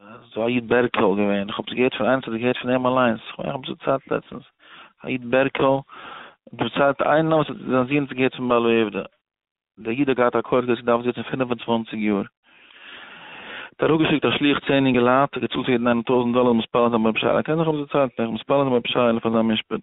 ס'איז א איד בערקעל געווען, כ'האב עס געהערט פון איינעם, ס'האט געהערט פון אים אליינס, כ'מיין כ'האב עס דערציילט לעצטנס, א איד בערקעל, דערציילט איינעם וואס האט זיין זון האט עס געהערט פון בעל העובדא, דער איד האט געהאט א כח געזעצן דארף זיצן פֿינף און צוואַנציק יאר, האט אראפגעשיקט א שליח צען אינגע לייט, האט געצאלט פאר יעדן איינעם טויזנט דאלער, מתפלל זיין ביי רבי שי ל, קענט זיך האב עס דערציילט, איך מיך מתפלל זיין ביי רבי שי ל פאר זיין משפט.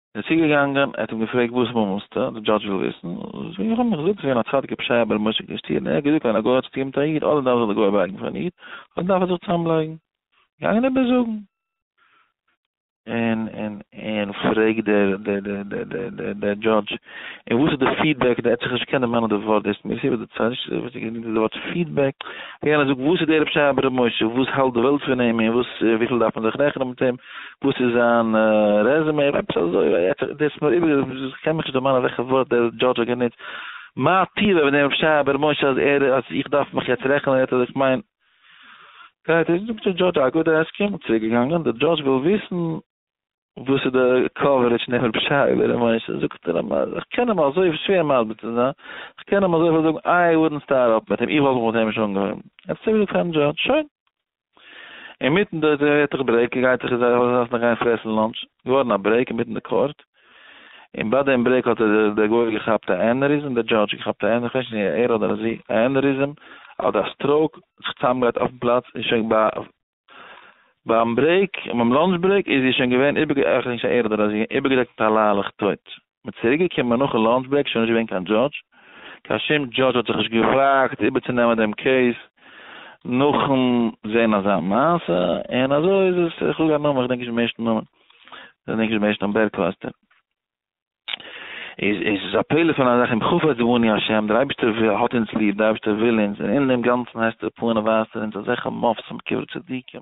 ער איז צוגעגאנגען, ער האט אים געפרעגט וואס מומלסטו, די דזשאדזש וויל וויסן, זאג איך אים, איך זאג ס'געווען א צדיק'ער פשעי אבער משה קעשטירנער, ער האט געזאגט ווען א גוי האט שטימט א איד, אדער דארף זיך די גוי בארגן פון איד, אדער דארף ער זיך צוזאמלייגן. געגאנגען איבערזאגן. און פרעגט דער דזשאדזש, און וואס איז די פידבעק, ער האט זיך נישט געקענט דערמאנען די ווארט, דאס מיר סיבה די צייט נישט וואס ער געזאגט די ווארט פידבעק, יענער זאגט וואס איז דער פשעי אבער משה, וואס האלט די וועלט פון אים, און וואס וויפיל דארף מען זיך רעכענען מיט אים. וואס איז זיין רעזעמעי אדער עפעס אזוי, ווייל יעצט דער איז מיר איבערגעבליבן, איך קען מיך נישט דערמאנען וועלכע ווארט דער דזשאדזש האט גענוצט, מה טיבה ווען דער שייע בער משה אז ער אז איך דארף מיך יעצט רעכענען יעצט אז איך מיין גרייט איז זאגט דער דזשאדזש א גוד עסקים, און צוריק געגאנגען, דער דזשאדזש וויל וויסן וואס איז די קאווערעדזש פון דעם רבי שייע בער משה, זאגט ער א איך קען אים אזוי שווער מסביר צו זיין, איך קען אים אזוי איך וועל זאגן איי וואודנט סטארט אפ מיט אים איך וואלט מיך מיט אים נישט אנגעהויבן, ער האט צוריק געזאגט פארן דזשאדזש שוין. אינמיטן די דערהערטעך ברעיק גייט זיך איז ער ארויס זיין גיין פרעסן לאנטש, געווארן א ברעיק אינמיטן די קאורט, און ביי דעם ברעיק האט דער גוי געכאפט א ענעריזם, דער דזשאדזש געכאפט א ענע, כ'ווייס נישט אויב ער אדער זי, א ענעריזם אדער א סטראוק, זיך צוזאמגערייט אויפן פלאץ, און שוין ביי ביים ברעיק, ביים לאנטש ברעיק, איז זי שוין געווען איבערגעדעקט, כ'ווייס נישט אויב ער אדער זי, איבערגעדעקט מיט א ליילעך טויט. מען איז צוריק געקומען נאכן לאנטש ברעיק שוין נישט געווען קיין דזשאדזש, קיין שום דזשאדזש האט זיך נישט געוואגט איבערצונעמען דעם קעיס נאכן זעהן אזא מעשה, און אזוי איז עס, איך זאג א נאמען, איך דענק נישט דעם ערשטן נאמען, איך דענק נישט דעם ערשטן נאמען, בערקלאסטער, איז עס א פלא פון א זאך, אם חפץ בנו ה', דער אייבערשטער האט אונז ליב, דער אייבערשטער וויל אונז, און אין דעם גאנצן הייסט ער פארן און ווייזט ער אונז אזעלכע מופתים בקברי צדיקים,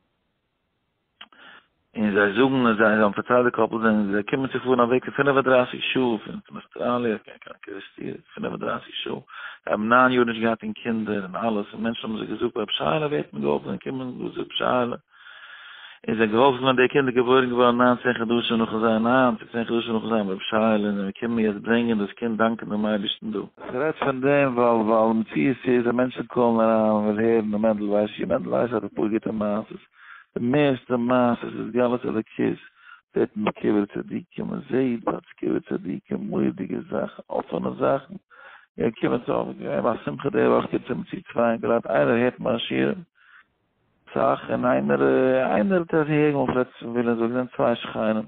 און זיי זאגן אז זיי האבן פארציילט די קאפל זענען זיי קומען צו פארן א וועג פון פֿינף און דרײַסיק שעה פון פון אוסטראליע קיין קיין קערעסטיר פֿינף און דרײַסיק שעה זיי האבן נײַן יאר נישט געהאט אין קינדער און אלעס און מענטשן האבן זיי געזאגט רב שיילע ווערט מיר געהאלפן זיי קומען וואס רב שיילע און זיי געהאלפן ווען די קינדער געבוירן געווארן נײַן צען חדשים נאכן זיין נײַן צו צען חדשים נאכן זיין רב שיילע און מיר קומען יעצט ברענגען דאס קינד דאנקען דעם אייבערשטן דא כ'רעד פון דעם ווייל ווייל די מציאות איז אז מענטשן קאלן אריין און ווילן הערן און מענדל ווייסט שוין, מענדל ווייסט אז אפאר גוטע מעשות, די מערסטע מעשות איז גלות אלוקית, זעט מען ביי קברי צדיקים, מען זעט ביי קברי צדיקים מורא'דיגע זאכן, אפענע זאכן, גייען קומען צו אויף געווען ביי א שמחה די וואך קומט צו מציאות צוויי און גראד איינער הערט מיינע שיעורים אסאך און איינער איינער האט עס ערשט געהערט, געווען פלעצער פון וויליאמסבורג זענען צוויי שכנים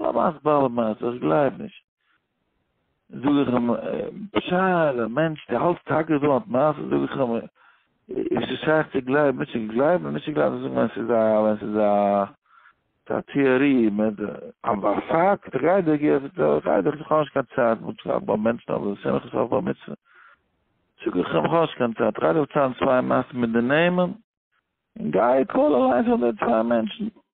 הלמאס בעל מעשה, איך גלייב נישט. זאג איך אים, פשער, א מענטש, דו האלטסט טאקע אז דא האט מעשה? זאג איך אים, איז עס שייך צו גלייבן, נישט צו גלייבן, נישט צו גלייבן, זאג ווען ס'איז א, ווען ס'איז א, ס'איז א טעאריע, אבער א פאקט, איך גיי דיך געבן, איך גיי דיך, איך האב נישט קיין צייט, מ'האט געשלאפן ביי מענטשן אויף די שמחות אויף בר מצוה. זאג איך אים, איך האב נישט קיין צייט, איך גיי דיך צייגן צוויי מעשים מיט די נעמען, און גיי קאל אליינס אן די צוויי מענטשן.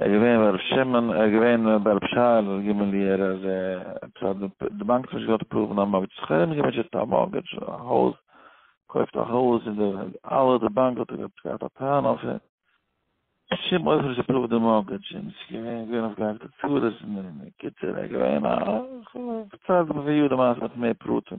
ער איז געווען ביי ר' שמעון, ער איז געווען ביי ר' שייעלע ג י ער איז עפעס אז די באנק האט נישט געוואלט אפראווען א מארגעדזש, זיך ארום געוואונטשן ער האט א מארגעדזש א הויז, קויפט א הויז און די אלע די באנק האט עפעס געהאט א טענה אויף אים, בשום אופן נישט אפראווד די מארגעדזש, און עס איז געווען אויף געהאקטע צרות און אין קיצור ער איז געווען א, איך האב פארציילט די מעשה מיט מער פרטים.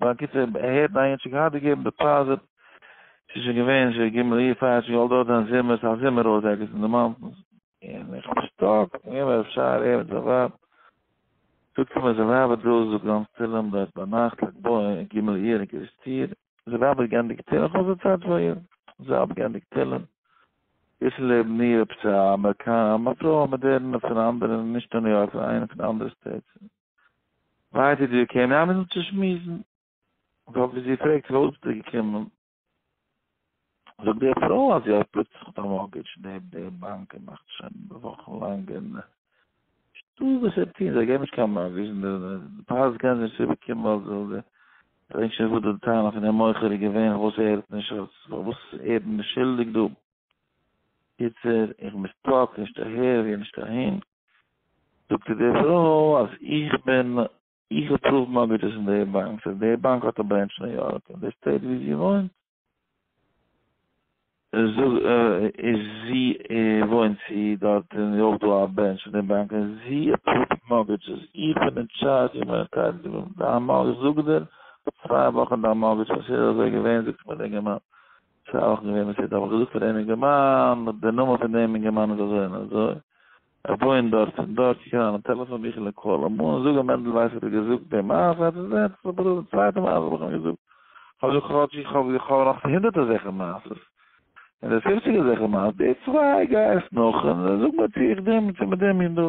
בקיצור, ער הערט א אידשע געהאט די געבן דעפאזיט, ס'איז שוין געווען ש ג אייר פאר ש ג אויך דארט זענען זומערס, א זומער הויז ערגעץ אין די מאונטענס, און איך בין שטאק, איך בין אפשר ער מיט זיין ווייב, זאגט ער מיר זיין ווייב האט דא זאגט גאנץ תהלים דארט ביינאכט לג בעומר ג אייר אין קרית יאיר, זיין ווייב האט געענדיגט תהלים, איך האב זיי צייט פאר איר, זיי האבן געענדיגט תהלים, איז לעבן איר עפעס א אמעריקאנע, א פרוי א מאדערנע פון אנדערע, נישט אין ניו יארק פון איינע פון די אנדערע סטעיטס. ווייטער איז זי געקומען אביסל צו שמועסן, אבער ווי זי פרעגט פארוואס ביסטו געקומען, זאגט די פרוי אז זי האט פלוצלינג געהאט א מארגעדזש, די די באנק מאכט שוין וואכן לאנג און שטאט וואס זיי טוהן, זיי געבן נישט קיין מארגעדזש און די פייערס קענען זי נישט צוריקבאקומען ווייל זי זאל די פרעגסט שוין וואס די טענה פון די מוכר איז געווען פארוואס ער האט נישט אז פארוואס ער איז נישט שולדיג דא. קיצור, איך בין סטאק, נישט אהער און נישט אהין. זאגט איר די פרוי אז איך בין. איך האב פרופ מארגעדזשעס אין די באנק, סאו די באנק האט א ברענטש ניו יארק, און די סטעיט ווי זי וואוינט איז זי וואוינט זי דארט און איז אויך דא א ברענטש פון די באנק און זי עפראווד מארגעדזשעס, איך בין אין טשארדזש איך בין אינטייטלד צו דיין מארגעדזש, זאג דיר צוויי וואכן דיין מארגעדזש ווען ס'איז אזוי געווען זאגט מיר די אינגערמאן. ס'איז אויך געווען וואס ער האט אבער געזאגט פאר דעם אינגערמאן, די נאמען פון דעם אינגערמאן איז אזוי און אזוי, ער וואוינט דארט און דארט, קוק אריין אין טעלעפאן ביכל און קאל אים אן און זאג אים מענדל ווייס האט דיר געזאגט די מעשה, האט ער געזען עפעס א בחור די צווייטע מעשה האב איך אים געזאגט, כ'האב געזאגט כאטש איך האב איך האב נאך הונדערט אזעלכע מעשה'ס, און די פופציג אזעלכע מעשה'ס, די צוויי גיי עס נאך און זאג מיר צו איך דעם צו מיט דעם אינדא.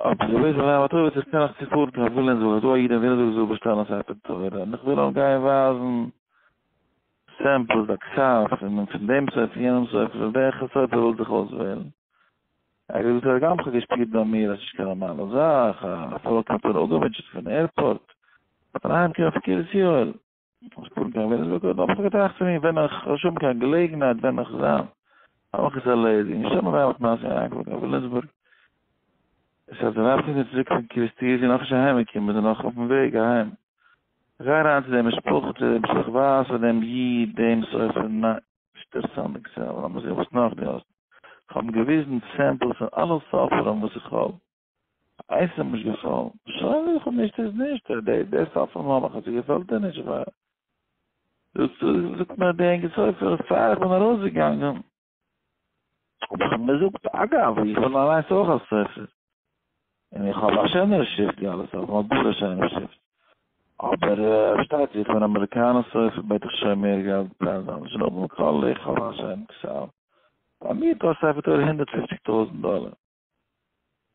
אבער די וועג פון זיין באטאוועט איך קען נאך צופארן קיין וויליאמסבורג איך זאג א איד אין וויליאמסבורג איך זאל באשטעלן א ספר תורה און איך וויל אים גיין ווייזן סעמפלס א קצת פון פון דעם ספר פון יענעם ספר פון וועלכע ספר ווילסט דיך אויסוועלן ער האט געזאגט ער האט גאנץ געשפירט ביי מיר אז ס'איז נישט קיין נארמאלע זאך א פאלק האט אים אפגעמוטשעט פון עירפארט און אהיים קומען פון קרית יואל. איך זאג דעם ווען איך זאג דעם האב איך געטראכט פון אים ווען איך וועל שוין האבן קיין געלעגנהייט ווען איך זיין האב איך עס ערלעדיגט נישט האבן אריין מיט מעשה אריינגעפארן קיין וויליאמסבורג עס האט די ווייב זינט צוריק פון קריסטי איז זי נאך נישט אהיים געקומען מיר זענען נאך אויפן וועג אהיים איך גיי אריין צו די משפחה צו דעם שלעכט ווייס פון דעם איד דעם סופר ניין שטערסט אהן די געזעלט אבער לאמיר זעהן וואס נאך די האסט איך האב אים געוויזן סעמפלס פון אלע ספרים וואס איך האב אייסעם נישט געפאלן, שוין איך האב נישט איז נישט, די די סוף פון מלאך אז ס'געפעלט דיר נישט ווייל זאגט מיר די ענגע ספר פאר איך בין ארויסגעגאנגען האב איך אים געזאגט אגב איך וויל אליינס אויך א ספר און איך האב א שענערע שריפט ווי אלע ספרים האט גאר א שענערע שריפט אבער פארשטייט זיך פון אמעריקאנע ספר בעט איך שוין מער געלט פאר זיי זאל האבן קול איך האב א שיינע קשאו ביי מיר קאסט א ספר תורה הונדערט פופציג טויזנט דאלער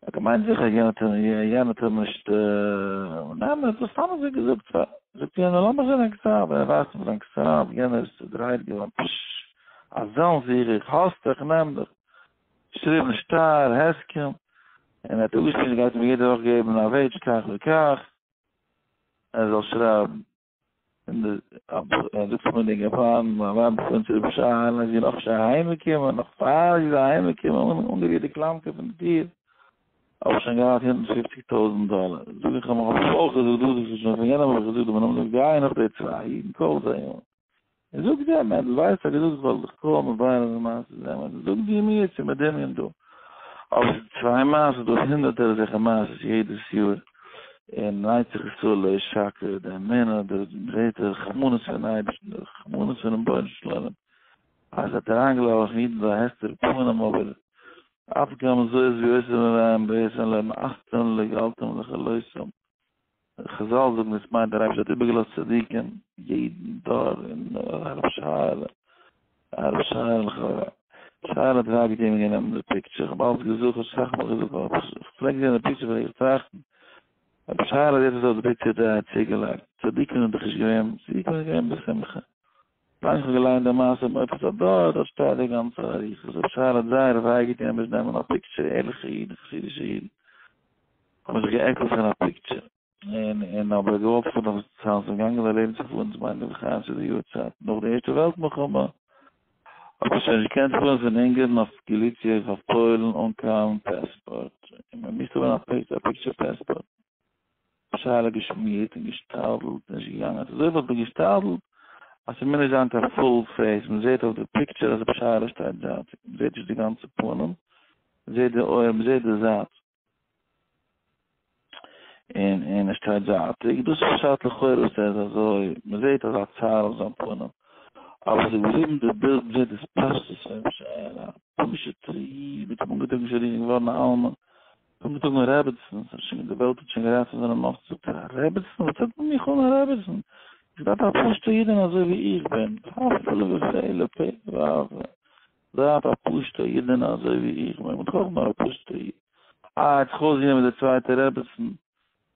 האט געמיינט זיכער יענער טאר יענער טאר נישט און ניין ער האט דאס סתם אזוי געזאגט פאר זאגט יענער לאמיר זען זיין כתב ווען ער ווייזט אים זיין כתב יענער איז צודרייט געווארן פשש אזען זיך איך האס דיך איך נעם דיך געשריבן שטר הסכם און ער האט אפגעשריבן זי גייט אים יעדע וואך געבן א וועידזש כך וכך ער זאל שרייבן און די אַבֿרהם זאָגט פֿון די געפֿאַרן, מײַן װײַב איז פֿון צוריק שײן, אַז זי איז נאָך נישט אַהײמגעקומען, נאָך פֿאַר זי איז אַהײמגעקומען, און אָנגערירט די קלאַמקע פֿון דער טיר, האָב איך שױן געהאַט הונדערט פֿופֿציק טױזנט דאָלער. זאָג איך אים, האָב איך אױך געזאָגט דאָס, װאָס איך זאָג שױן פֿון יענעם, האָב איך געזאָגט דעם נאָמען דעם גײ נאָך די צװײ ייִדן, קױף זײ אָן. און זאג דו אמת, דו ווייסט אז געזאגט וואלט איך קוים מברר די מעשה זעהן וואס דו זאגסט דיר מיר צו מדמיין דא, אבער ס'איז צוויי מעשות דא הונדערטער אזעלכע מעשות יעדעס יאר, און נייט זיך עס אלל לעת שקר די אמונה די זעהט די רחמנות פון אייבערשטן די רחמנות פונעם בונו של עולם אז ער האט אריין געלאזט אידן זיין הסתר פנים אבער אף גם זאת ווי עושה מרעים בעשהן להם אכתם לגעלתם לכלותם. חזל זאגן עס מיינט דער אייבערשטער האט איבערגעלאזט צדיקים יעדן דור און הרב שרה'לע הרב שרה'לע שרה'לע האט רייט געטוהן ווען גענומען די פיקטשער כ'האב אלץ געזוכט כ'האב אסאך מאל געזאגט אבער כ'האב פלעגט זעהן די פיקטשער פלעג איך טראכטן הרב שרה'לע האט יעצט אויף די פיקטשער די א צוגעלייגט צדיקים זענען דאך נישט געווען צדיקים זענען געווען בשמחה. איך האב געליינט די מעשה מיט עפעס א דור דארט שטייט די גאנצע אריכות ר' שאול האט זייער וויי געטון ער מוז נעמען א פיקטשער ערליכע אידן חסידישע אידן האבן זיך געעקלט פון א פיקטשער און און אבער געוואלט פארן אויף די צאנז און געגאנגען זיי לעבן צו פארן צו מיין נווה חיים צו די יארצייט נאך די ערשטע וועלט מלחמה האט מען שוין נישט געקענט פארן פון אונגערן אויף געליציע אויף פוילן אן קיין פעספארט און מען מוז האבן א פיקטשער פעספארט. שאלה געשמירט און געשתדלט נישט געגאנגען אזוי וואלט מען געשתדלט אז ס'מוז נישט זיין קיין פול פעיס מען זעהט אויף די פיקטשער אז רבי שאלה שטייט זייטיג מען זעהט נישט די גאנצע פנים מען זעהט די אויער מען זעהט די זייט און און ער שטייט זייטיג דאס איז פשט לכאורה וואס ער איז אזוי מען זעהט אזא צער אויף זיין פנים אבער עס איז געבליבן די בילד מען זעהט דאס פשטות פון רבי שאלה פשוט'ער איד מיט אנגעטראגן שרירים געווארן א אלמן קומט די טאג אן רעביצן, ס'איז שוין, די וועלט האט שוין גערייצט פון זיינע מאסן, זאגט ער, א רעביצן? וואס טוט מען מיך אן א רעביצן? איך דארף א פשוט'ע אידענע אזוי ווי איך בין, הפלא ופלא, פלא ואבלה, דארף א פשוט'ע אידענע אזוי ווי איך בין, וואס טראגט נאר א פשוט'ע איד? אה, האט זיך אויסגענומען דער צווייטער רעביצן,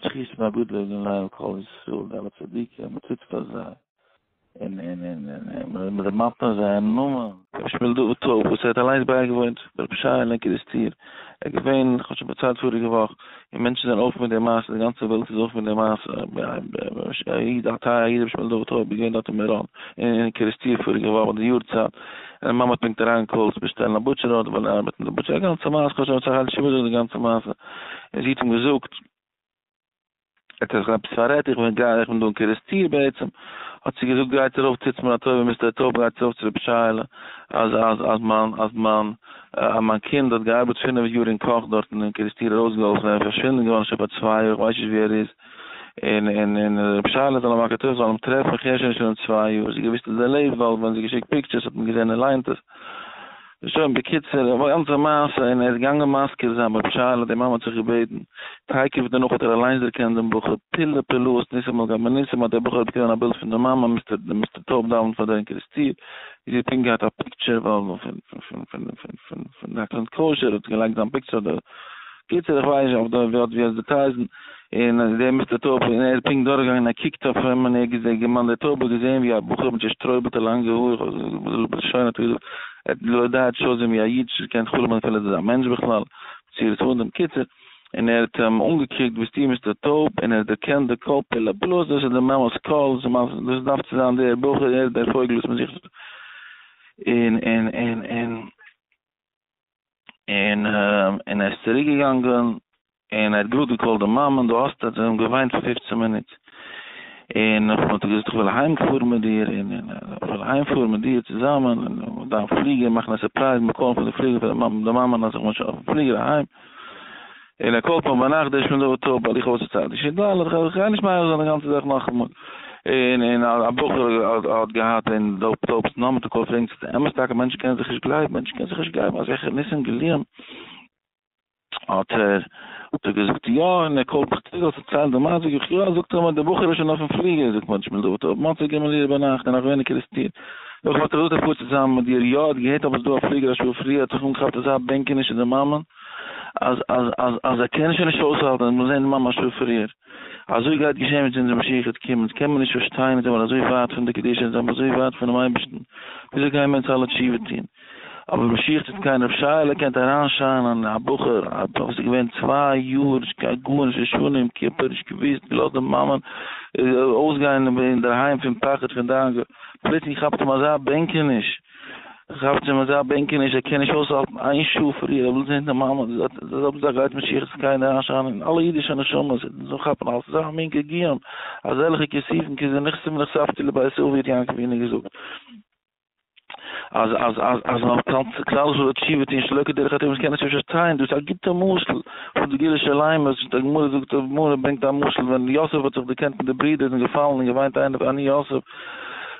זכות מהגדול און ליל כל ישראל די אלע צדיקים מען טוט פאר זיי און און און און און מען דערמאנט נאר זייער נאמען. רבי שמואל דוד טויב וואס ער האט אליינס בייגעוואוינט ביי רבי שייעלע אין קערעסטיר, ער איז געווען כ'האב שוין פארציילט פאריגע וואך, און מענטשן זענען אויף מיט די מעשה די גאנצע וועלט איז אויף מיט די מעשה א איד א טייערע איד רבי שמואל דוד טויב איז געווען דארט אין מירון אין קערעסטיר פאריגע וואך ביי די יארצייט און א מאמע האט פונקט אריינגעקאלט צו באשטעלן א בוטשער ארדער ווייל ער ארבעט אין די בוטשער א גאנצע מעשה כ'האב שוין פארציילט שווער זאגן די גאנצע מעשה. און זי האט אים געזאגט, ער האט זיך עפעס פאררעדט, איך בין גיי איך בין דא אין קערעסטיר בעצם, האט זי געזאגט גייטס ארויף טוטס מיר א טובה מיסטער א טובה גייטס ארויף צו רבי שייעלע אז אז אז מיין אז מיין אז מיין קינד האט געארבעט פינף יאר אין קאך דארטן אין קערעסטיר ארויסגעהאלפן ער איז פארשווינדן געווארן שוין פאר צוויי יאר כ'ווייס נישט ווי ער איז און און און רבי שייעלע זאל אים מאכן טובה זאל אים טרעפן כ'הער שוין נישט פון אים צוויי יאר, זי האט געוויסט אז ער לעבט ווייל ווען זי האט געשיקט פיקטשערס האט מען געזען ער ליינט עס. שוין בקיצור די גאנצע מעשה און ער איז געגאנגען מזכיר זיין בב שיילה די מאמע האט זיך געבעטן תיכף דערנאך האט ער אליינס דערקענט דעם בחור פלא פלאות ניסים על גבי ניסים האט דער בחור אויף גענומען א בילד פון די מאמע מיסטער טויב דאווענט פאר דער אינקריסטיר ווי זי האט פונקט געהאט א פיקטשער פון די הקרנת קשר האט געלייגט זיין פיקטשער אויף די קיצור איך ווייס נישט אויף די ווי אט ווי אזוי צו טרעיסן און אז דער מיסטער טויב און ער איז פונקט דורכגעגאנגען ער קוקט אויף אים און ער האט געזעהן דער מאן דער טויב האט געזעהן ווי א בחור מיט צושטרויבעלטע לאנגע האר איך ווייס נישט בלשון האט ער געזאגט ער האט געלויבט די הייד שזון ווי א איד נישט געקענט חלומ'ן אפילו אז עס איז א מענטש בכלל צורת האדם קיצור און ער האט אים אנגעקוקט ביסטו מיסטער טויב און ער האט דערקענט די קול פלא פלאות דאס איז די מאמעס קול דאס דארף צו זיין דער בחור ער איז דער פויגל וואס מען זוכט און און און און. און און ער איז צוריק געגאנגען און ער האט גראד געקאלט די מאמען דו האסט ער האט אים געוויינט פאר פופצען מינוט און און האט געזאגט איך וויל אהיים פארן מיט דיר און און און איך וויל אהיים פארן מיט דיר צוזאמען און און דיין פליגער מאכן א סורפרייז מיר קאלן פון די פליגער פאר די מאמען די מאמען האט זיך משאכ אויפן פליגער אהיים. על הכל פאר ביינאכט דערשט מען דארט אפ הליכה עושה צעד איש את רעהו, איך גיי נישט מערער זיין די גאנצע זאך נאכאמאל, און און א בחור האט געהאט און דארט טאפס און נאכמיטאג קויפט ער אינז איז עס אמת טאקע מענטשן קענען זיך נישט גלייבן מענטשן קענען זיך נישט גלייבן אזעלכע ניסים גלויים האט ער האט ער געזאגט יא און על הכל איך וויל דערציילן די מעשה זאג איך יא זאגט ער מיר די בחור איז שוין אויפן פליגער זאגט מען דערשט מען דארט אפ מוצאי ג' אייר ביינאכט און נאך ווייניגער איז טיל זאג איך וואלט איך געזאגט א פאר צוזאמען מיט דיר יא ער האט געהערט עפעס דא א פליגער א שעה פריער האט זיך אנגעכאפט אזא בענקעניש אין די מאמענט אז אז ער קען עס שוין נישט אויסהאלטן און מיר זעהן ממש ווי פריער אזוי גייט געשען מיט אונזער משיח'ס קום, אונז קען מיר נישט פארשטיין אונז זעמיר אזוי ווייט פון די קדושה אונז זעמיר אזוי ווייט פונעם אייבערשטן וויאזוי גייען מיר יעצט אלע תשובה טון אבער משיח טוט קיין רב שייעלע קענט אריינשיינען א בחור א בחור וואס איז געווען צוויי יאר נישט קיין גארנישט נישט שונא יום כיפור נישט געוויסט געלאזט די מאמען אויסגיין אינדערהיים פון פחד פון דאגה פלוצלינג כאפט אים אזא בענקעניש כאפצעם אזא בענקעניש ער קען נישט אויסהאלטן איין שעה פאר איר אבלט זינט די מאמע זאל זאגן זיי גייט משיח'ס זקן אריינשיינען אין אלע אידישע נשמות און אונז זאלן כאפן אלס אזא מין געגועין אזעלכע כיסופים כזה נחשף ונחשפתי לבית אבי האט יענקל ווינער געזאגט אז אז אז אז מען זאל כלל ישראל תשובה טוהן שלא כדרך הטבע אונז קענען נישט פארשטיין דאס איז א גוטע משל פון די גילו שלימות די גמרא זאגט די גמרא ברענגט א משל ווען יוסף האט זיך דערקענט מיט די ברידער און געפאלן און געוויינט איינער אני יוסף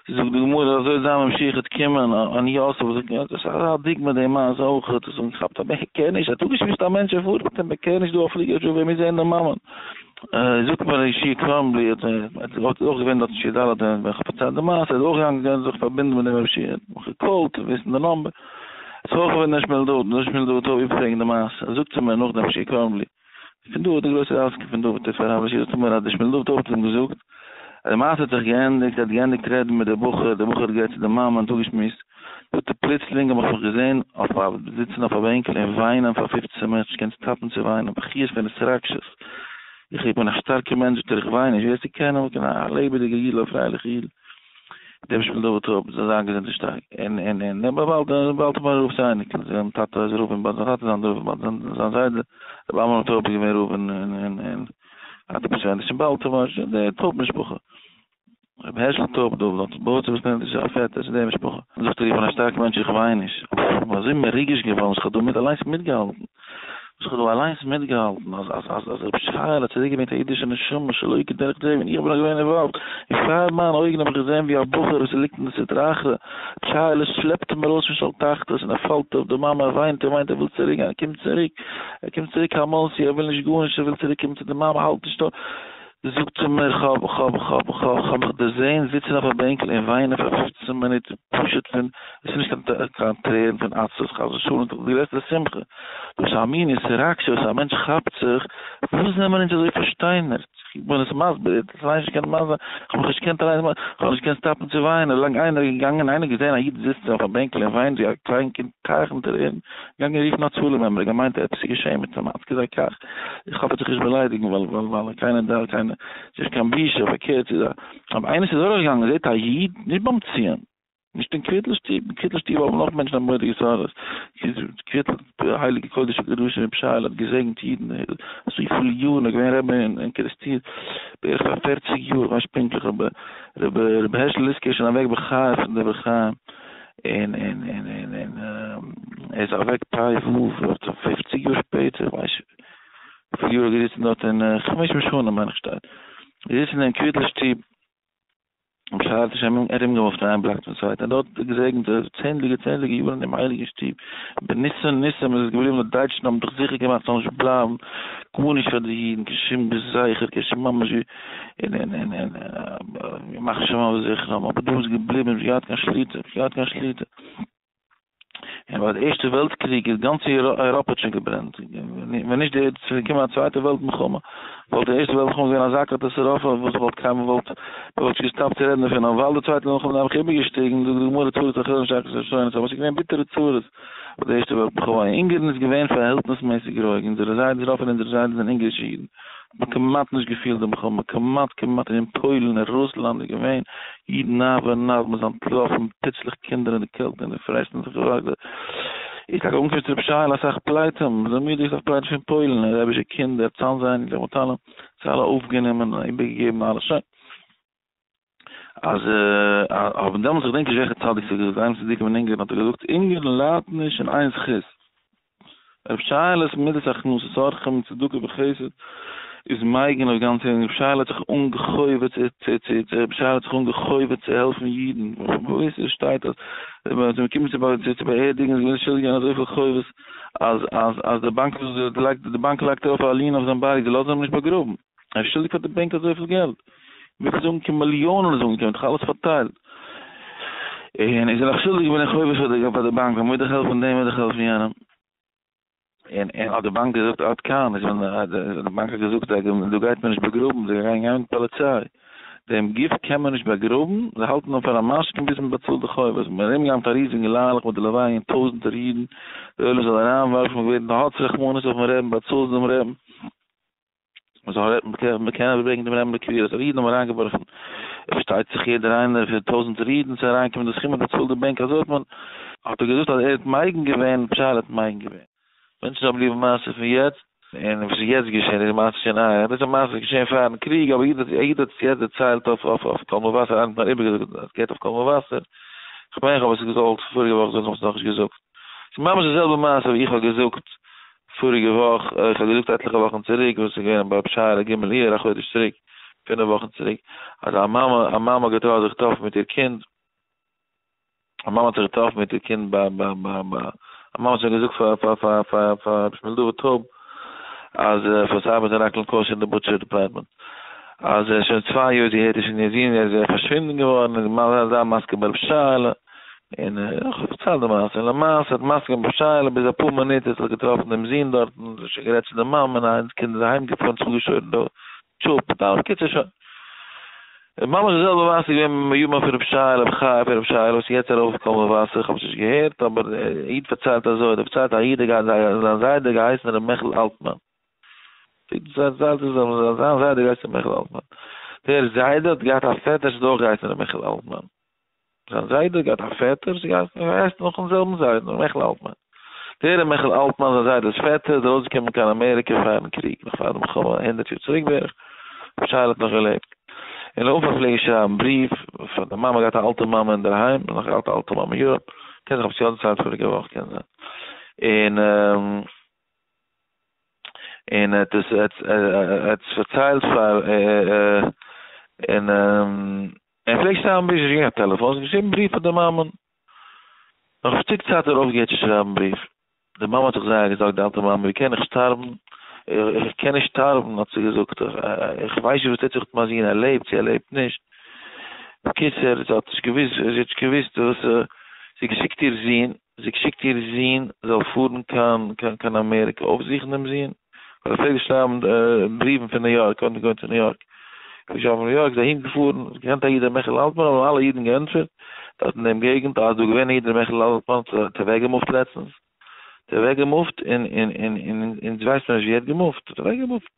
זאגט די גמרא אזוי איז זיין ממשיכת קימען אני יוסף וואס איז געווען עפעס א דיוק מיט די מעשה אויך האט עס אנגעכאפט א בעקער נישט האט אפגעשמועסט א מענטש ער פארט מיט אים בעקער נישט דא א פליגער זשאו ווער מוז זעהן די מאמען זאגט מיר ר' ישעי' קראנבלי האט אויך געווען דארט אין שי ד ווען איך האב פארציילט די מעשה איז אויך געגאנגען געווען זיך פארבינדן מיט די ממשיך האט מיך געקאלט צו וויסן די נאמבער איז אויך געווען ר' שמואל דוד ר' שמואל דוד האט אויף איבערפרעגן די מעשה זאגט ער מיר נאך ר' ישעי' קראנבלי פון דא האט דער גרויסער ריזקי פון דא ותיפאר רב אשר האט אמר אז דער שמואל דוב טויב האט אים געזאגט אז די מעשה האט זיך געענדיגט ער האט געענדיגט רעדן מיט די בחור דער בחור האט גערעדט צו די מאמע און צוגעשמועסט זאגט ער פלוצלינג האב איך מיך געזען אויף א זיצן אויף א בענקל און וויינען פאר פופצען מינוט נישט געקענט סטאפן צו וויינען בכיות פון התרגשות איך איך בין א שטארקע מענטש זאגט ער איך וויין נישט ווער ס'קען אים קען א לעבעדיגע אידל א פרייליכע אידל. דעם שמן דוד טויב, זאל זיין געזונט און שטארק, און און און נעם א באלד און באלד פאר רוב זיינע אייניקלען, זיין טאטע איז רב אין באלד, זיין טאטע זיין רב אין באלד, זיין זיין זיידע רבי עמרם טויב איז געווען רב אין אין אין אין א טיפוס ווען נישט אין באלד טאמער נישט אין די טויב משפחה, רבי הערשל טויב דוב לאנצן בויארצער וואס נעמט זיך א פעטער צו די משפחה, זאגט ער איך בין א שטארקע מענטש איך וויין נישט, אבער איך בין אזוי מרוגש געווארן וכדו' מען האט אליינס מיטגעהאלטן. איך האב דא אליינס מיטגעהאלטן אז אז אז אז רבי שרייעלע האט צוריק געברענגט א אידישע נשמה שלא כדרך טבע און איך בין נאך געווען אינוואלווד און פאר מיינע אויגן האב איך געזען ווי א בחור וואס ליגט אין די סטרא אחרא טשייערלעך שלעפט אים ארויס פון של תחתית און ער פאלט אויף די מאמע ער וויינט און וויינט ער וויל צוריק גיין ער קומט צוריק ער קומט צוריק א מאנסי ער וויל נישט גארנישט ער וויל צוריק קומען צו די מאמע האלט נישט אויס זאָגט זי מיר, כ'האָב, כ'האָב, כ'האָב, כ'האָב, כ'האָב מיך דערזען זיצן אויף אַ בענקל און וויינען פֿאַר פֿופֿצן מינוט, פּשוט פֿון, עס איז נישט קיין, קיין טרערן פֿון עצבות, חס-ושלום, נאָר די גרעסטע שמחה. וואָס אַ מין התרגשות אַ מענטש כאַפּט זיך! וואָס זעמער אונדז אַזוי פֿאַרשטיינערט? איך בין עס מסביר, איך האָב זיך אַליין נישט געקענט מסביר, איך האָב מיך נישט געקענט אַליין מסביר, כ'האָב נישט געקענט סטאָפּן צו וויינען, ווי לאַנג איינער איז געגאַנגען, איינער געזען אַ ייִד זיצן אויף אַ בענקל און וויינט ווי אַ קליינקינד, טייכן טרערן, געגאַנגען רופֿן אַ צלם, עמער געמיינט, עפּעס איז געשען מיט אים, אַצקע זיי קאַך! איך האף ער האט זיך נישט באליידיגן ווייל קיינער דארף קיין נישט קיין בושה פארקערט איז א אויב איינער איז אדורך געגאנגען זעט א איד נישט ביים ציון נישט אין קוויטל שטוב אין קוויטל שטוב האבן נאך מענטשן א מורא'דיגע סארא קוויטל הייליגע קודש הקדשים רבי שייעלע האט געזעגנט אידן אזויפיל יארן ער איז געווען רבי אין קערעסטיר בערך פאר פערציג יאר כ'ווייס נישט פונקטליך אבער רבי הערשל ליסקער איז שוין אוועק בחייו פון דברי חיים און און און און און ער איז אוועק פאי וו וואס צו פופציג יאר שפעטער איך ווייס וויפיל יאר ער האט געזיצן דארט און חמש מאות שנה מיין איך שטייט געזיצן אין קוויטל שטוב בשער תשמ א ארומגעמופט איין בלאק צום צווייטן און דארט געזעגנט צענדליגע צענדליגע יארן אינעם הייליגן שטוב בניסן ניסים איז עס געבליבן די דייטשן האבן זיך זיכער געמאכט ס'זאל נישט בלייבן גארנישט פאר די אידן קיין שום זכר קיין שום ממש ווי און און און און און ימח שמו וזכרם, אבער דא איז געבליבן נישט געהאט קיין שליטה, נישט געהאט קיין שליטה. און ביי די ערשטע וועלט קריג איז גאנץ אייראפע האט שוין געברענט, ווען נישט די ס'איז געקומען א צווייטע וועלט מלחמה, וואלט די ערשטע וועלט מלחמה געווען אזא קאטאסעראפע וואס וואלט קיינמאל וואלט מען וואלט נישט געסטאפט צו רעדן דערפון, אבער ווייל די צווייטע וועלט מלחמה איז נעבעך איבערגעשטיגן, זאגט די גמרא צרת אחרון שחר ראשון, ס'האט שוין געווען ביטערע צרות ביי די ערשטע וועלט מלחמה, אונגערן איז געווען פארהעלטנסמעסיג רואיג, אונזערע זיידעס רוב פון אונזערע זיידעס זענען אונגערישע אידן, מ'האט כמעט נישט געפילט די מלחמה, כמעט כמעט און אין פוילן און רוסלאנד איז געווען אידן נייט ביי נייט, מ'איז אנטלאפן, פיצלעך קינדער אין די קעלט און די פרעסט און זיך געווארט, איז טאקע אנגעקומען צו רבי שייעלע אסאך פליטים, זעמידיג אסאך פליטים פון פוילן, און רבי'שע קינדער, צאנז אייניקלעך מיט אלעם, זיי אלע אויפגענומען און איבערגעגעבן אלעס, שוין. אז האבן דעמאלטס איך דענק נישט וועלכע צדיק ס'איז געווען איינס פון די צדיקים אין אונגערן האט ער געזאגט אונגערן ליידט נישט אין איין זכות רב שיילע'ס מידת הכנסת אורחים צדקה וחסד איז מייגן אויף גאנץ אונגערן רב שייל האט זיך אנגעהויבן צו צו צו צו רב שייל האט זיך אנגעהויבן צו העלפן אידן וואו עס שטייט אז ווען מען האט אים געקומען צו צו באערדיגן איז געווען שולדיג געווען אזויפיל חובות אז אז אז די באנק האט זיך געלייגט די באנק לייגט ארויף א ליען אויף זיין בארג זיי לאזן אים נישט באגראבן. ער איז שולדיג פאר די בענק אזויפיל געלט, ווי צו זאגן קען מיליאנען זאגן קען מיט חלות פארטייל, און איז ער נאך שולדיג בין איך חובש פאר די פאר די באנק, מ'מוז דאך העלפן דעם מ'מוז דאך העלפן יענעם. און און האט די באנק געזאגט עד כאן, איז ווען די באנק האט געזאגט זיי געווען דא גייט מען נישט באגראבן, זיי גייען גיין מיט פאליציי, דעם גוף קען מען נישט באגראבן, זיי האלטן אים פאר א משכון ביז מ'באצאלט די חובות, ווען מ'וועט ארומגיין מיט א ריזיגן ליילעך מיט די לוויה און טויזנטער אידן, די עולם זאל אריינווארפן ווערן האטס רחמנות אויפן רעבן באצאלטס דעם רעבן. מען קען אבער ברענגען דעם רמב ם לקביעות אז אידן האבן אריינגעווארפן, עס פארשטייט זיך יעדער איינער פון טויזנטער אידן צו אריינקומען אין די סכום און די צאל די בענק אזוי האט מען, האט ער געזאגט אז ער האט מייגן געווען, פשט ער האט מייגן געווען, מענטשן זאלן בליעבן מעשה פון יעצט, און וואס איז יעצט געשען איז די מעשה שוין אהער, דאס איז א מעשה וואס איז געשען פארן קריג אבער איעדער האט עס יעצט דערציילט אויף קול מבשר, איינער האט מיר איבערגעזאגט אז עס געהערט אויף קול מבשר, כ'מיין כ'האב עס געזאלט פאריגע וואך זאגן, כ'האב עס נאכנישט געזאגט, ס'איז ממש די זעלבע מעשה ווי איך האב געזאגט פאריגע וואך, איך האב געזאגט עטליכע וואכן צוריק, וואס איז געווען ביי פשרה ר ג אייר, א חודש צוריק, פינף וואכן צוריק, אז א מאמע, א מאמע האט געטרויערט זיך טרעפן מיט איר קינד, א מאמע האט זיך געטראפן מיט איר קינד ביי ביי ביי ביי, א מאמע האט שוין געזאגט פאר פאר פאר פאר פאר רבי שמואל דוד טאוב, אז פאר סיי מיט אראקל קאושער אין די בוטשער דעפארטמענט, אז שוין צוויי יאר זי הערט נישט פון איר זון, ער איז פארשווינדן געווארן, און זיי זיי מזכה ברב שרה'לע. און איך האב פארציילט די מעשה, און למעשה האט מסכים בשאלה, ביז אפאר מינוט האט זיך געטראפן דעם זון דארטן, און זיי שוין גערעדט צו די מאמע, און איינס קינד איז אהיים געפארן צו געשוירן די טשופ, און די קיצער שוין. און ממש די זעלבע מעשה איז געווען מיט מימא פון רב שי, רב חי פון רב שי, וואס איז יעצט ארויף קול מבשר, איך האב עס נישט געהערט, אבער א איד פארציילט אזוי, דער פארציילט א איד האט געהאט זיין זיידע געהייסן ר' מעכל אלטמאן, דער זיידע האט געהייסן ר' מעכל אלטמאן. זיין זיידע האט געהאט א פעטער וואס איז געהייסן געווען הייסט נאכן זעלבן זיידן מעכל אלטמאן. דער ר' מעכל אלטמאן זיין זיידעס פעטער איז ארויסגעקומען קיין אמעריקע פארן קריג, נאך פאר די מלחמה, הונדערט יאר צוריק בערך, ווען שייעלע האט נאך געלעבט. און לויף האט פלעגן שרייבן בריוו פאר די מאמע, געהאט א אלטע מאמע אינדערהיים, און נאך געהאט א אלטע מאמע אין יוראפ, קען זיך כ'האב עס יא דערציילט פאריגע וואך קען זיין. און און ער האט עס ער האט עס פארציילט פאר און. ער פלעגט שרייבן בריוו, נישט געהאט קיין טעלעפאן, האט געשריבן בריוו פאר די מאמען. נאך א שטיק צייט האט ער אויפגעהערט צו שרייבן בריוו. די מאמע האט זיך זייער געזארגט, די אלטע מאמע, ווי קען איך שטארבן, איך קען נישט שטארבן, האט זי געזאגט, איך ווייס נישט וואס טוט זיך מיט מיין זון, ער לעבט צי ער לעבט נישט. בקיצור, זי האט נישט געוואוסט, זי האט נישט געוואוסט וואס, זי האט געשיקט איר זון, זי שיקט איר זון זאל פארן קיין קיין אמעריקע אויפזוכן דעם זון, ווייל ער פלעגט דאס שרייבן בריוון פון ניו יארק, קודם געווען צו ניו יארק, פון שטאט ניו יארק איז אהין געפארן, האט געקענט א איד ר' מעכל אלטמאן האבן אלע אידן געענטפערט דארט אין דעם געגנט, אז דא געווען א איד ר' מעכל אלטמאן האט זיך אוועקגעמופט לעצטנס, האט אוועקגעמופט און און און און אונז ווייסט מען נישט ווי ער האט געמופט, האט אוועקגעמופט.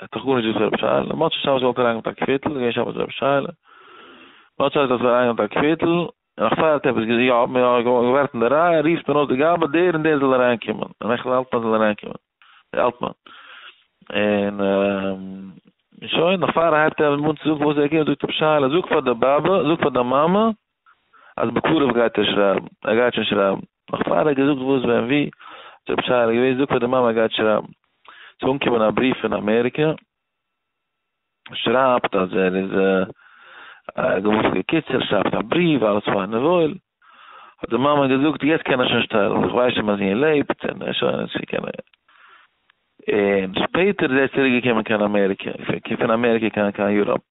ער האט דאך גארנישט געוואוסט פון רבי שייעלע, און מוצאי שבת וואלט ער אריינגענומען מיט א קוויטל, איז געווען שבת רבי שייעלע, מוצאי שבת האט ער אריינגענומען מיט א קוויטל, און נאך פאר ער האט עפעס געזאגט, יא, מען האט געווארט אין די רייע, רופט מען אויס די גאבד, דער און דער זאל אריינקומען, און איך און אלטמאן זאלן אריינקומען, דער אלטמאן, און שוין, נאך פאר ער הייבט אן צו זאגן וואס ער קומט זאגט רבי שייעלע, זאג פאר די באבע, זאג פאר די מאמע, אז בקרוב גייט ער שרייבן, ער גייט שוין שרייבן, נאך פאר ער האט געזאגט וואס ווען ווי, האט רבי שייעלע געוואוסט, זאגט ער די מאמע ער גייט שרייבן, ס'איז אנגעקומען א בריוו פון אמעריקע, שרייבט אז ער איז געוואוסט בקיצור, שרייבט א בריוו, אלעס פיין און וואויל, האט די מאמע געזאגט יעצט קען ער שוין שטעלן, איך ווייס שוין אז זי'ען לעבט, און ער שוין און קען ער, און שפעטער איז ער צוריק געקומען קיין אמעריקע, פון אמעריקע קיין קיין יוראפ.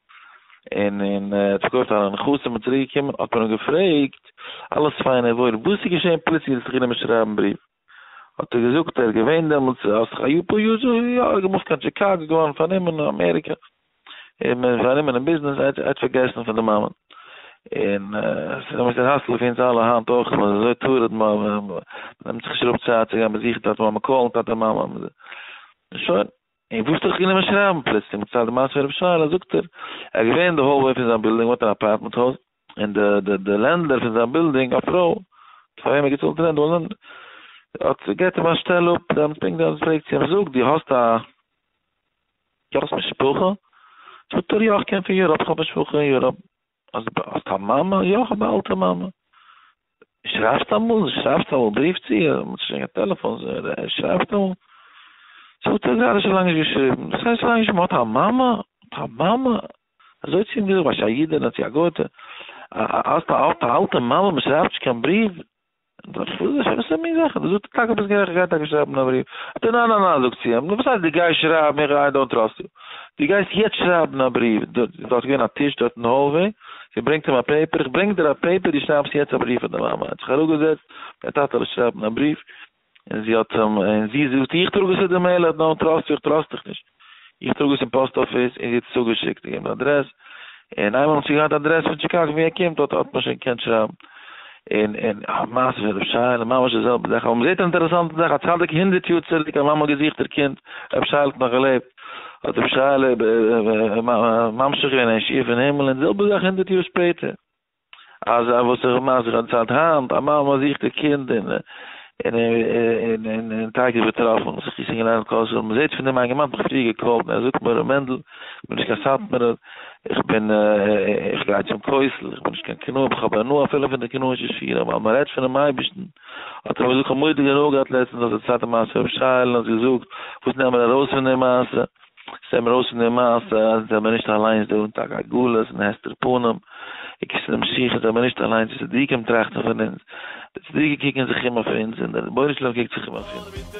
און און ער האט פארקויפט א נכסים און צוריק געקומען האט מען אים געפרעגט אלעס פיין און וואויל וואס איז געשען פלוצלינג זעסט זיך אינעם שרייבן בריוו האט ער געזאגט ער איז געווען דעמאלטס ער האט זיך א יאר פאר יאר זיך יא ער האט געמופט קיין טשיקאגא געווארן פארנומען אין אמעריקא און מען איז פארנומען אין ביזנעס ער האט פארגעסן פון די מאמענט און עס איז אמת'ער האסל אויף אונז אלע היינט אויך מען איז אזוי טרוד מ מ מ'נעמט זיך נישט אראפ צייט צו גיין באזוכן טאטע מאמע קאלן טאטע מאמע און שוין. און וואס האט ער זיך גענומען שרייבן פלוצלינג מצד די מעשה פון רבי שרה'לע זאגט ער, ער איז געווען אין די האלוועי פון זיין בילדינג, האט אן אפארטמענט הויז, און די די די לענדלער פון זיין בילדינג, א פרוי פאר וועם ער האט געצאלט רענט, האט געבט אים א שטעל אפ, דעמאלטס פונקט דעמאלטס פרעגט זי אים, זאג, דו האסט א, דו האסט משפחה? זאגט ער, יא, איך קום פון יוראפ, איך האב משפחה אין יוראפ. האסט האסט א מאמע? יא כ'האב א אלטע מאמע. שרייבסט אמאל? זי שרייבסט אמאל? בריוו צו איר? מ'האט שוין קיין טעלעפאן. זי שרייבט אמאל? זאגט ער גראדע שוין לאנג נישט געשריבן. דאס הייסט שוין לאנג נישט מ'האט א מאמע? האט א מאמע? אזוי צו אים געזאגט, ווייסט א אידענע צו א גויטע? האסט א האסט א אלטע מאמע? מ'שרייבט נישט קיין בריוו? וואס איז מין זאכן דאס? זאגט ער, טאקע ביסט גערעכט, גיי טאקע שרייבן א בריוו. זאגט ער, ניין ניין ניין, זאגט זי אים, נו וואס הייסט דו גייסט שרייבן, איך איי דאונט טראסט יו. דו גייסט יעצט שרייבן א בריוו, דארט איז געווען א טיש דארט אין האלוועי, זי ברענגט אים א פעיפער, איך ברענג דיר א פעיפער, דו שרייבסט יעצט א בריוו פאר די מאמע. ער האט זיך אראפגעזעצט, גיי טאטעלע שרייבן א בריוו. און זי האט אים, און זי זאגט, איך טראג עס צו די מעיל ארדער, נאר טראסט זיך, טראסט דיך נישט, איך טראג עס אין פאסט אפיס, און זי האט עס צוגעשיקט, געגעבן די אדרעס, און איינמאל האט זי געהאט די אדרעס פון טשיקאגא ווי ער קומט, האט האט מען שוין געקענט שרייבן. און און א מעשה פון רב שייעלע, ממש די זעלבע זאך, אבער מען זעט אן אינטערעסאנטע זאך, א צדיק הונדערט יאר צוריק, א מאמע האט געזוכט איר קינד, רב שייעלע האט נאך געלעבט, האט רב שייעלע ממשיך געווען אין ישיבה אין הימל, און די זעלבע זאך הונדערט יאר שפעטער. אזא וואס איך האב מיינס איך האב צייט היינט, א מאמע זוכט איר קינד און און טאקע איז באטראפן, זיך געשריגן אריין אין קול שלום, מען זעט פון אים איינגערמאן האט מיך פריער געקאלט און ער זאגט מיר ר' מענדל איך בין נישט קיין סאטמארער איך בין איך גיי צום כותל איך בין נישט קיין קנאי אבער איך האב הנאה אפילו פון די קנאישע שירים ווייל מען רעדט פונעם אייבערשטן האט ער מיר געזאגט איך האב מורא'דיג הנאה געהאט לעצטענס אז די צווייטע מעשה רבי שייעלע האט געזאגט וואס נעמען ארויס פון די מעשה ס'זעט מיר אויס פון די מעשה אז זיי זענען נישט אליינס דא אין טאג הגלות און הסתר פנים, עיקר ס'איז די משיח'ס זענען מיר נישט אליינס די צדיקים טראכטן פון אונז, די צדיקים קוקן זיך אום אויף אונז און דער רבונו של עולם קוקט זיך אום אויף אונז.